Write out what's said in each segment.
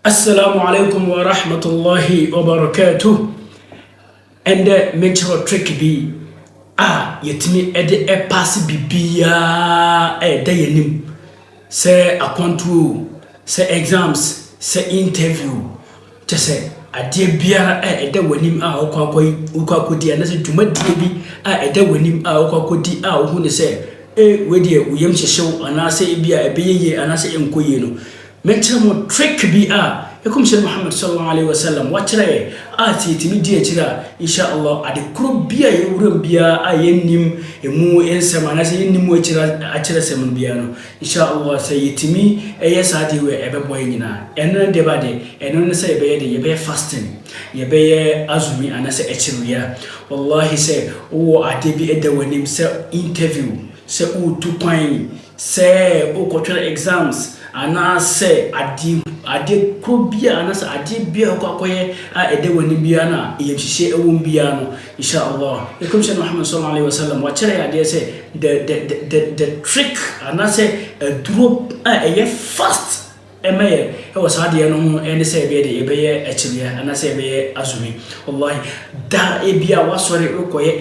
Assalamu alaikum wa rahmatullahi wa barakatuh. Ɛndɛ mekyerɛ trick bi a yɛtumi de ɛpaase biribiara ɛda yɛn anim sɛ akwantuo sɛ exams sɛ interview kyɛ sɛ adeɛ biara a ɛda wɔn anim a wokɔ akɔ yi wokɔ akɔdi anasɛ dwumadie bi a ɛda wɔn anim a wokɔ akɔdi a wohu ne sɛ e wei deɛ wo yam hyehyew anaasɛ ebi a ɛbɛyɛ yie anaasɛ ɛnkɔ yie no Me nkyerɛ mo trick bi a Ɛkɔmhyɛni Muhammad sɔlɔllɔhu alaihi wa sallam wakyerɛ yɛn a sɛ yɛtumi di akyire a, In shaa Allah, ade korɔ bi a yɛwura mu biara a yɛnnim ɛmu nsɛm anaasɛ yɛnnim mu akyire akyerɛsɛm no biara no, In shaa Allah, sɛ yɛtumi yɛ saa adeɛ wei a, ɛbɛboa yɛn nyinaa. Ɛno ne deɛ bɛadeɛ? Ɛno ne sɛ yɛbɛyɛ deɛ? Yɛbɛyɛ fasting, yɛbɛyɛ azumi anaasɛ akyire wia. Wallahi sɛ wowɔ adeɛ bi da w'anim sɛ interview, Sɛ woretu kwan, sɛ worekɔtwerɛ exams anaasɛ ade adeɛ korɔ biara anaasɛ adeɛ biara a wokɔ akɔyɛ a ɛda w'ani biara no a ayamhyehyeɛ wɔ mu biara no, Insha Allah, yɛn Kɔmhyɛni Muhammad Sallallahu Alaihi Wasallam, wakyerɛ yɛn adeɛ sɛ the the the the trick anaasɛ aduro a ɛyɛ fast ɛma yɛ ɛwɔ saa adeɛ no ho ɛne sɛ ɛbɛyɛ de yɛbɛyɛ akyiriɛ anaasɛ yɛbɛyɛ azumi. Wallahi, da ebi a wasɔre rekɔyɛ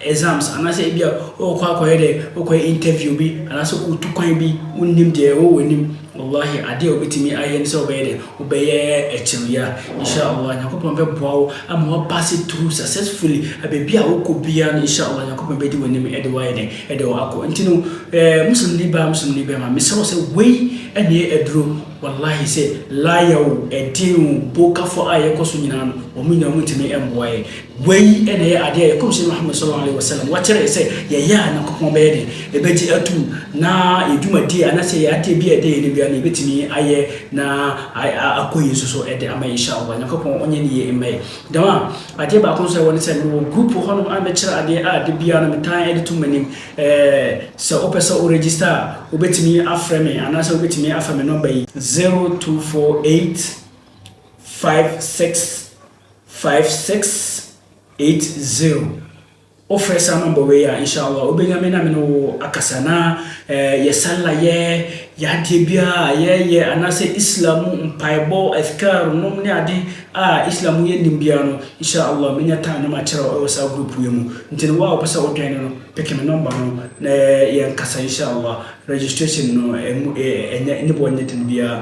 exams anaasɛ ebia ɔkɔ akɔyɛ dɛ ɔkɔyɛ interview bi anaasɛ ɔtu kwan bi wonnim deɛ ɛwɔ w'anim wallahi adeɛ a wobɛtumi ayɛ ne sɛ wobɛyɛ dɛ wobɛyɛ akyiri yi a insha'Allah Nyankopɔn bɛboa wo ama woapase through successfully baabi a wokɔ biara no insha'Allah Nyankopɔn bɛdi w'anim de wo ayɛ dɛ de wo akɔ nti no eh, Muslimni baa Muslimni bɛrima mesrɛ wo sɛ wei ɛneɛ aduro wallahi sɛ lawyer o ɛdin o bokafo a yɛkɔ so nyinaa no wɔn nyinaa wɔntumi mmoa yɛ Wei na ɛyɛ adeɛ a yɛn Kɔmhyɛni Muhammad sɔlɔllɔhu alaihi wasallam wɔkyerɛɛ sɛ yɛyɛ a Nyankopɔn bɛyɛ dɛn? Ɛbɛgye atum, na yɛn dwumadie anaasɛ yɛn adeɛ biara a ɛda yɛn anim biara no yɛbɛtumi ayɛ na akɔ yie nso so de ama In Shaa Allah. Nyankopɔn ɔnyɛ ne yie mma yɛn. Jamaa, adeɛ baako nso a ɛwɔ ne sɛ mewɔ group wɔ hɔnom a mekyerɛ adeɛ a da biara no metaa de tom m'anim. Ɛɛ sɛ wopɛ sɛ wo register a, wobɛtumi afrɛ me anaasɛ wobɛtumi afa me nɔmba yi. Zero two four eight five six Five six eight zero Wofrɛ saa number wei a inshallah wobɛnya me na me ne wo akasa na eh, yɛ sallah yɛ yɛ adeɛ biara a yɛyɛ anaasɛ Islam mu mpaebɔ adhkar nom ne ade a Islam mu yɛnim biara no inshallah mɛnya time na makyerɛ wo ɛwɔ saa group wei mu nti no wo a wopɛ sɛ wo join no peke me number no na yɛnkasa inshallah registration no ɛmu eh, ɛnyɛ ne boɔ nyɛ den biara